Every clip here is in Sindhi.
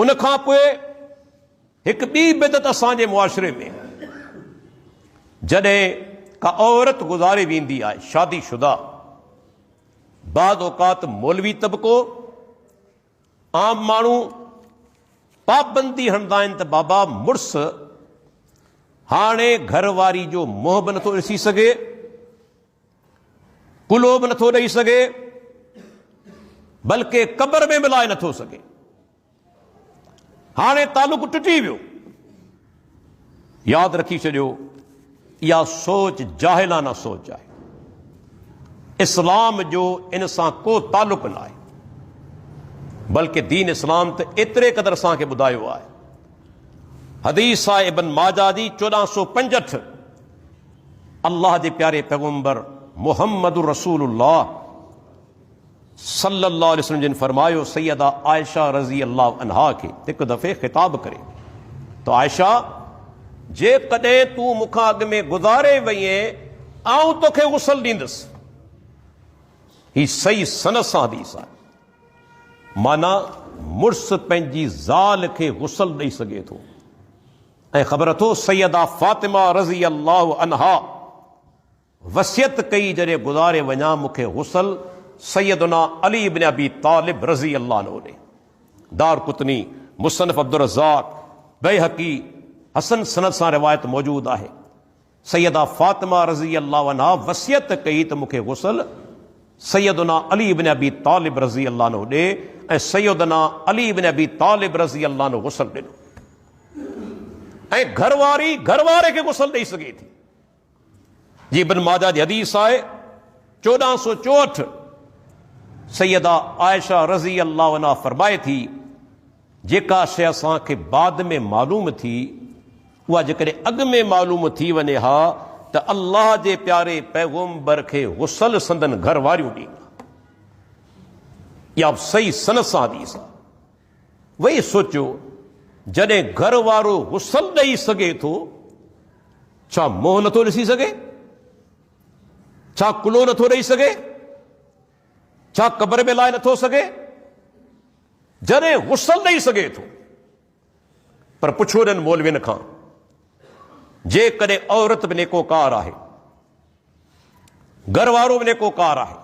ان کان پوء هڪ ٻي بدعت اسان جي معاشري ۾ جڏهن ڪا عورت گذاري ويندي آهي شادي شدہ بعض اوقات مولوي طبقو عام ماڻهو پابندي هڻندا آهن ته بابا مڙس هاڻي گهر واري جو منهن به نٿو ڏسي سگهي ڪلهو به نٿو ڏئي سگهي، بلڪ قبر ۾ به لاهي نٿو سگهي. هاڻي تعلق ٽٽي ويو. ياد رکي ڇڏيو، اها سوچ جاهلانه سوچ آهي. اسلام جو ان سان ڪو تعلق نه آهي. بلڪ دين اسلام ته ايتري قدر اسان کي ٻڌايو آهي. حديث آهي ابن ماجه جي چوڏهن سو پنجهٺ. الله جي پياري پيغمبر محمد رسول الله صلي الله عليه وسلم جن فرمايو سيده عائشه رضي الله عنها کي هڪ دفعي خطاب ڪري ته عائشه جيڪڏهن تون مون کان اڳ ۾ گذاري وئين آئون توکي غسل ڏيندس هي صحيح سند سان حديث آهي معنيٰ مڙس پنهنجي زال کي غسل ڏئي سگهي ٿو ۽ خبر اٿو سيده فاطمه رضي الله عنها وصيت ڪئي جڏهن گذاري وڃان مون کي غسل سيدنا علي بن ابي طالب رضي الله عنه ڏي. دارقطني، مصنف عبدالرزاق، بيهقي، حسن سند سان روايت موجود آهي. سيده فاطمه رضي الله عنها وصيت ڪئي ته مون کي غسل سيدنا علي ابن ابي طالب رضي الله عنه ڏي ۽ سيدنا علي ابن ابي طالب رضي الله عنه غسل ڏنو ۽ گهر واري گهر واري کي غسل ڏئي سگهي ٿي جي ابن ماجه جي حديث آهي چوڏهن سو چوهٺ سيده عائشه رضي الله عنها فرمائي ٿي جيڪا شيء اسان کي بعد ۾ معلوم ٿي، اها جيڪڏهن اڳ ۾ معلوم ٿي وڃي ها ته الله جي پياري پيغمبر کي غسل سندن گهر واريون ڏين ها. اها به صحيح سند سان حديث آهي. ويهي سوچيو، جڏهن گهر وارو غسل ڏئي سگهي ٿو، ڇا منهن نٿو ڏسي سگهي؟ ڇا ڪلهو نٿو ڏئي سگهي؟ ڇا قبر ۾ لاهي نٿو سگهي؟ جڏهن غسل ڏئي سگهي ٿو. پر پڇو انهن مولوين کان جيڪڏهن عورت به نيڪوڪار آهي، گهر وارو به نيڪوڪار آهي،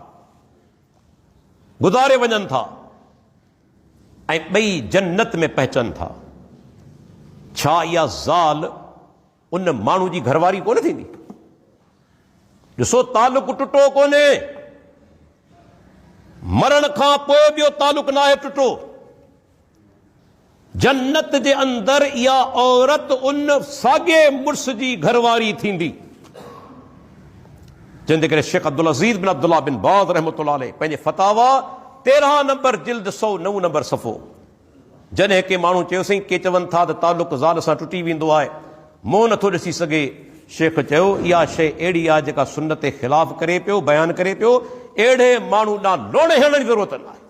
گذاري وڃن ٿا ۽ ٻئي جنت ۾ پهچن ٿا، ڇا اها زال ان ماڻهو جي گهرواري ڪونه ٿيندي ڏسو تعلق ٽٽو ڪونهي مرڻ کان پوء ٻيو تعلق ناهي ٽٽو جنت جي اندر اها عورت ان ساڳي مڙس جي گهرواري ٿيندي جن جي ڪري شيخ عبدالعزيز بن عبدالله بن باز رحمت الله علیه پنهنجي فتاوا تيرهن نمبر جلد سو نو نمبر صفو جڏهن ڪنهن ماڻهو چيوسين ڪي چون ٿا ته تعلق زال سان ٽٽي ويندو آهي، منهن نٿو ڏسي سگهي. شيخ چيو اها شيء اهڙي آهي جيڪا سنت خلاف ڪري پيو، بيان ڪري پيو، اهڙي ماڻهو ڏانهن لوڻ هڻڻ جي ضرورت نه آهي،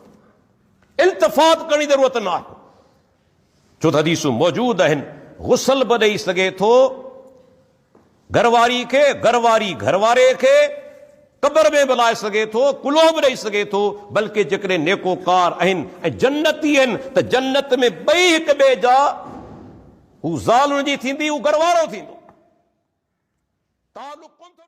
التفات ڪرڻ جي ضرورت نه آهي، ڇو ته حديثون موجود آهن، غسل به ڏئي سگهي ٿو. گهر واري کي، گهر واري گهر واري کي قبر ۾ به لائي سگهي ٿو، ڪلهو به ڏئي سگهي ٿو، بلڪه جيڪڏهن نيڪوڪار آهن ۽ جنتي آهن ته جنت ۾ ٻئي هڪ ٻئي جا هو زال ان جي ٿيندي، هو گهر وارو ٿيندو.